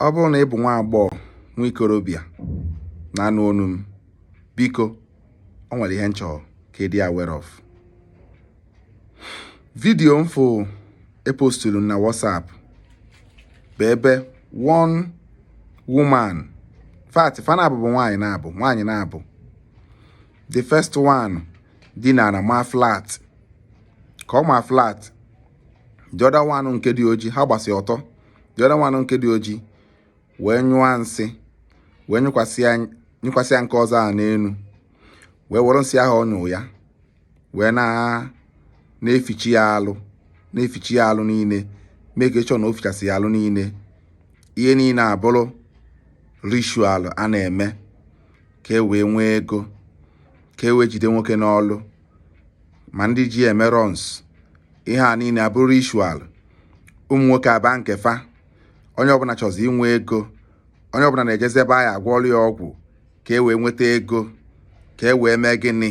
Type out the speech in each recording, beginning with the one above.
ọ bụrụ na ị bụ nwa agbọghọ nwa ikorobịa na-anụ onu m biko o nwere ihe m chọrọ ka ị dị aware of vidiyo m fụ epostulu na WhatsApp bụ ebe one woman fact fa naabọ bụ nwaanyị naabọ nwaanyị naabọ the first one dinara ma flat ka ọ ma flat the other one nke dị oji ha gbasi ọtọ the other one nke dị oji wee nyụọ nsị wee nyụkwasịa nke ọzọ a n'elu wee were nsị ahụ ọ nyụ ya wee na-efichi ya alụ na-efichi ya alụ niile make sure na o fichasị ya alụ niile ihe niile abụrụ ritual a na-eme ka e wee nwee ego ka e wee jide nwoke n'ọlụ ma ndị ji eme runs ihe a niile abụrụ ritual ụmụ nwoke aba nke fa onye ọbụla chọzi inwe ego onye ọbụla na-ejezi ebe a ya-agwọlụ ya ọgwụ ka e wee nweta ego ka e wee mee gịnị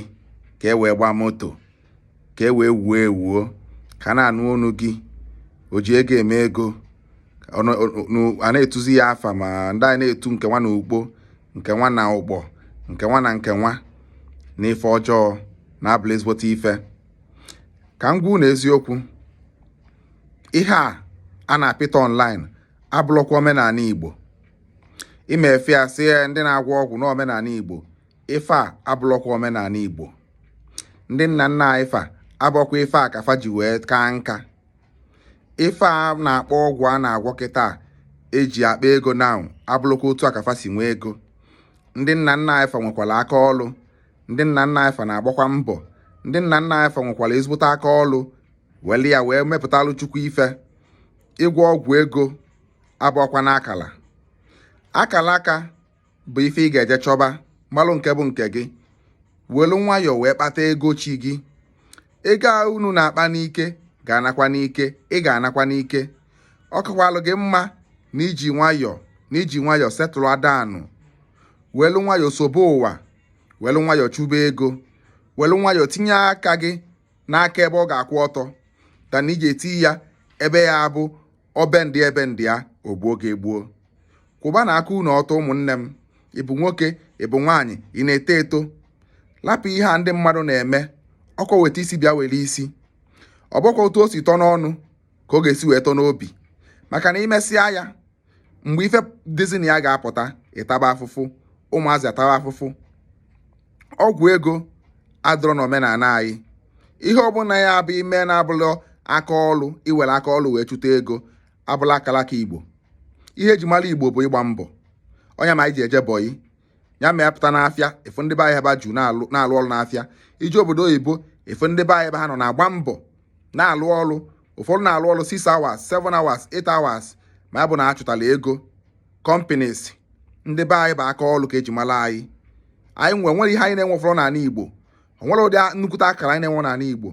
ka e wee gbaa moto ka e wee wuo ewuo ka a na-anụ onu gị o ji ego eme ego a na-etuzi ya afa ma ndị a na-etu nke nwa na ugbo nke nwa na ụkpọ nke nwa na nke nwa na ife ọjọọ na-abụlụ ezigbote ife ka m gwa unu eziokwu ihe a a na-apụta online abụlọkwa omenala Igbo ime ife a sị ndị na-agwọ ọgwụ na omenala Igbo ife a abụlọkwa omenala Igbo ndị nna nna anyị fa abụọkwa ife a ka fa ji wee kaa nka ife a na-akpọ ọgwụ a na-agwọ kịtaa e ji akpa ego na abụlọkwa otu a ka fa si nwee ego ndị nna nna anyị fa nwekwara aka ọlụ ndị nna nna anyị fa na-agbakwa mbọ ndị nna nna anyị fa nwekwara ezigbote aka ọlụ welu ya wee mepụtalụ chukwu ife ịgwọ ọgwụ ego abụọkwa n'akala akala aka bụ ife ị ga-eje chọba malụ nke bụ nke gị welu nwayọọ wee kpata ego chi gị ego a unu na-akpa n'ike ga-anakwa n'ike ị ga-anakwa n'ike ọ kakwalụ gị mma na i ji nwayọọ na i ji nwayọọ settle down welu nwayọọ sobe ụwa welu nwayọọ chụba ego welu nwayọọ tinye aka gị n'aka ebe ọ ga-akwụ ọtọ than na i je etinye ebe ọ ya-abụ ọ bendie ebendie o gbuo gị egbuo kwụbanụ aka unu ọtọ ụmụnne m ị bụ nwoke ị bụ nwaanyị ị na-eto eto lapụ ihe a ndị mmadụ na-eme ọkwa weta isi bịa were isi ọ bụọkwa otu o si tọ n'ọnụ ka ọ ga-esi wee tọ n'obi maka na i mesịa ya mgbe ife dịzi na ya ga-apụta ịtaba afụfụ ụmụazị ataba afụfụ ọgwụ ego adịrọ na omenala anyị ihe ọbụla ị ya-aba ime na-abụlọ aka ọlụ iwere aka ọlụ wee chụta ego abụlọ akalaka igbo ihe eji mara igbo bụ ịgba mbọ ọ ya mere anyị ji eje bọyị ya mere ị pụta n'afịa ị fụ ndị be anyị ebe ha ju na-alụ ọrụ n'afịa i je obodo oyibo ị fụ ndị be anyị ebe ha nọ na-agba mbọ na-alụ ọrụ ụfọdụ na-alụ ọrụ 6 hours 7 hours 8 hours ma ya bụ na achụtala ego companies ndị be anyị bụ aka ọrụ ka eji mara anyị anyị nwe nwere ihe anyị na-enwe ụfọdụ n'ala Igbo onwere ụdị nnukwute akara anyị na-enwe n'ala Igbo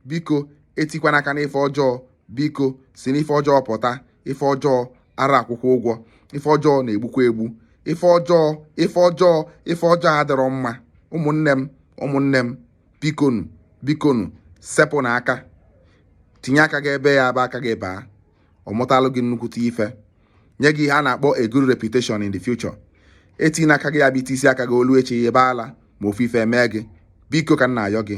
biko etikwana aka n'ife ọjọọ biko si n'ife ọjọọ pụta ife ọjọọ ara akwụkwa ụgwọ ife ọjọọ na-egbukwa egbu ife ọjọọ ife ọjọọ ife ọjọọ adịrọ mma ụmụnne m ụmụnne m bikonu bikonu sepụnụ aka tinye aka gị ebe ọ ya-abụ aka gị baa ọ mụtalụ gị nnukwute ife nye gị ihe a na-akpọ a good reputation in the future etinye aka gị ya bụ isi aka gị o lue echi ebe ala ma ofu ife mee gị biko ka m na-ayọ gị